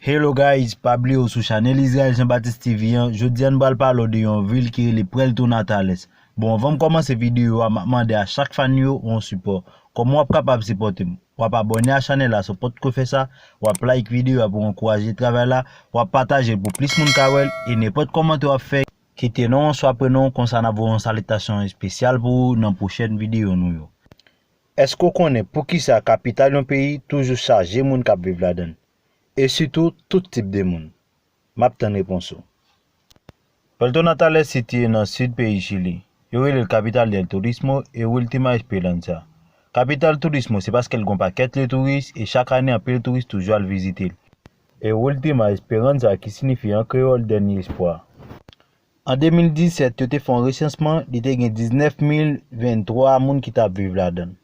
Hello guys pa bliye ou sou chanel Israel Jean Baptiste TV an jodi an nou pral pale w de yon vil ki rele Puerto Natales bon anvan m kòmanse videyo a map mande a chak fan yo yon sipò kòman wap kapab sipòte m wap abòne a chanel la si w potko fè sa wap like videyo a pou w ankouraje travay la wap pataje l pou plis moun ka wè l e nenpòt kòmantè wap fè kite non w oswa prenon w konsa nap voye yon salitasyon espesyal pou ou nan pwochèn videyo nou yo. Èske w konnen poukisa kapital yon peyi toujou chaje moun k ap viv ladan l, e sitou tout tip de moun? M ap tann repons ou. Puerto Natal est sitiye nan sid peyi Chili. Yo rele l Capital del Turismo e Ultima Esperanza. Kapital Turismo se paske l gen yon pakèt lye touris e chak ane anpil touris toujou al vizite l. E Ultima Esperanza ki sinifi an kreyòl Dènye Espwa. An 2017, yo te fè yon resansman, li te gen 19,023 moun ki t ap viv ladan l.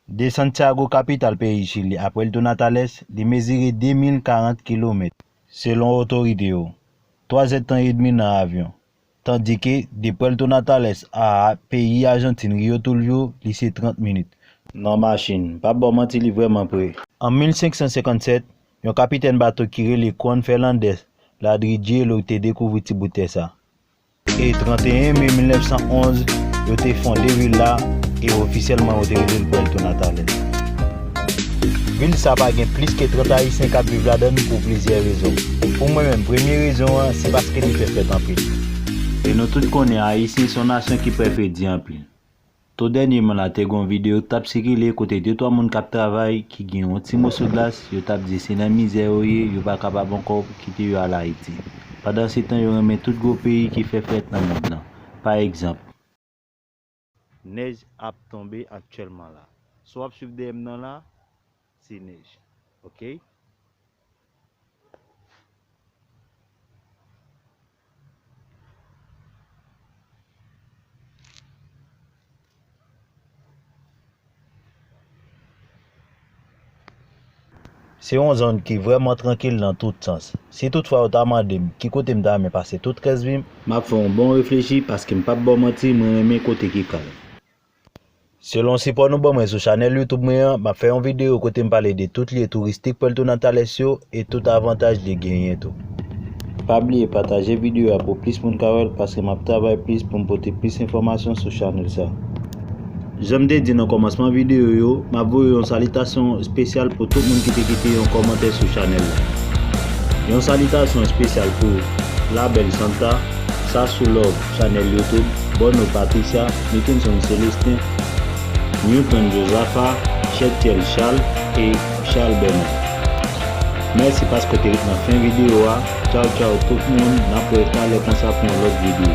De Santiago, kapital peyi Chili, a Puerto Natales, li mezire 2,040 kilomèt, selon otorite yo, twa zèdtan edmi nan avyon, tandike de Puerto Natales a peyi Ajantin Rio Tulvio, li se 30 minit. Nan machin. M p ap ba w manti, li vrèman pre. An 1557, Yon kapitèn bato ki rele Juan Fernández Ladrillero te dekouvri ti bout tè sa. E 31 me 1911, yo te fonde vil la e ofisyèlman yo te rele l Puerto Natales. Vil sa pa gen plis ke 30 Ayisyen k ap viv ladan l pou plizyè rezon. Pou mwen menm, premye rezon an se paske li fè fèt anpil. E nou tout konnen Ayisyen se yon nasyon ki pè fè di anpil. To dènyeman la te gen yon videyo k tap sikile kote de twa moun kap travay ki gen yon ti moso glas yo tap di se nan mizè yo ye yo pa kapab ankò kite yo al Ayiti pandan se tan yo renmen tout gwo peyi ki fè frèt nan mond lan pa egzanp nèj ap tonbe aktyèlman la. Sa w ap swiv dèyè m nan la, Ti nèj ok. Se yon zòn ki vrèman trankil nan tout sans. Si tout fwa yo ta mande m ki kote m ta renmen pase tout rès vi m, m ap fè yon bon reflechi paske m p ap ba w manti mwen renmen kote ki kalm. Selon sipò nou ban mwen sou chanèl YouTube mwen an, map fè yon videyo kote m pale de tout lye touristik Puerto Natales yo e tout avantaj li genyen tou. Pa bliye pataje videyo a pou plis moun ka wèl paske map travay plis poum pote plis enfòmasyon sou chanèl sa. Janm te di nan kòmansman videyo yo, map voye yon salitasyon espesyal pou tout moun ki te kite yon kòmantè sou chanèl la. Yon salitasyon espesyal pou Label Santa, Sassou Love. Chanèl YouTube Borno Patricia Mickinson Célestin Newton Josaphat Chètyèl Charles e Charles Bernard Mèsi paske w te ret nan fen videyo a Tchaw tchaw tout moun N ap wè talè konsa pou yon lòt videyo.